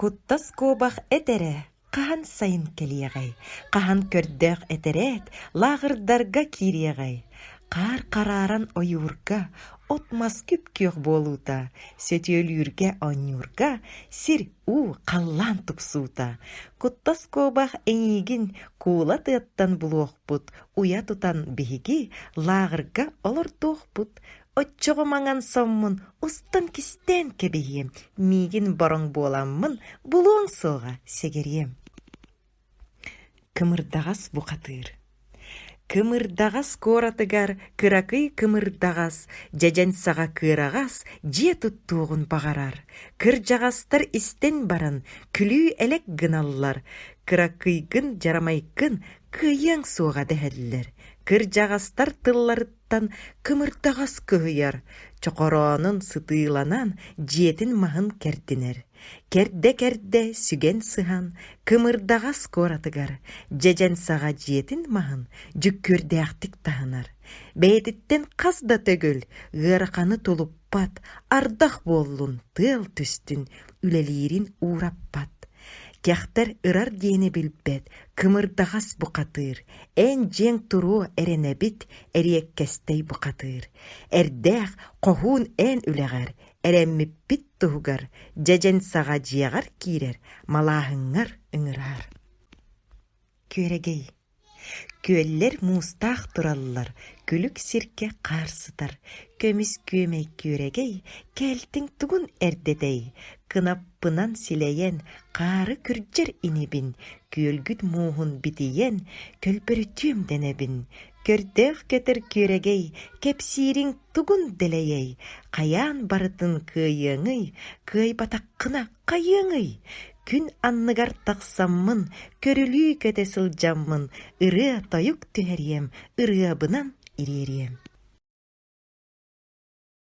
Куттас куобах этэрэ хаһан сайын кэлиэҕэй, хаһан көрдөөх этэрээт лааҕырдарга киириэҕэй, хаар харааран ойуурга, от-мас күп-күөх буолуута, сөтүөлүүргэ оонньуурга сир-уу халлаан тупсуута, куттас куобах эйиигин куула тыаттан булуохпут уйа тутан биһиги лааҕырга олордуохпут Оччоҕо маҥан соммун устан кистээн кэбиһиэм, миигин бороҥ буоламмын, булуоҥ суоҕа сигириэм Кымырдаҕас бухатыыр Кымырдаҕас куоратыгар кыракый кымырдаҕас, дьэдьэн саҕа кыараҕас дьиэ туттуоҕун баҕарар. Кырдьаҕастар истэн баран күлүү-элэк гыналлар. Кыракыйгын, дьарамайгын кыайыаҥ суоҕа дэһэллэр. Кырдьаҕастар тылларыттан аттыттан кымырдаҕас кыһыйар, чохороонун сытыыланан дьиэтин маһын кэрдинэр. Кэрдэ-кэрдэ сүгэн сыһан, кымырдаҕас куоратыгар дьэдьэн саҕа дьиэтин маһын дьүккүөрдээхтик таһынар. Бэйэтиттэн хас да төгүл ыараханы тулуппат, ардах буоллун тыал түстүн үлэлиирин уураппат. Кэхтэр ырар диэни билбэт, кымырдаҕас бухатыыр, эн-дьиэҥ туруо эрэнэбит, эриэккэстэй бухатыыр. Эрдээх хоһуун эн үлэҕэр, эрэммиппит туһугар, дьэдьэн саҕа дьиэҕэр киирэр, малааһыҥҥар ыҥыраар. Күөрэгэй Күөллэр муустаах тураллар, күлүк сиргэ хаар сытар, көмүс күөмэй күөрэгэй, кээлтиҥ тугун эрдэтэй, кынаппынан силэйэн, хаары күрдьэр инибин, күөлгүт мууһун битийэн, көлбөрүтүөм дэнэбин, көрдөөх-көтөр күөрэгэй, кэпсиириҥ тугун дэлэйэй, хайаан барытын кыайыаҥый, кыайбатаххына Хайыаҥый, күн анныгар тахсаммын, көрүлүү көтө сылдьаммын, ырыа-тойук түһэриэм, ырыабынан ириэриэм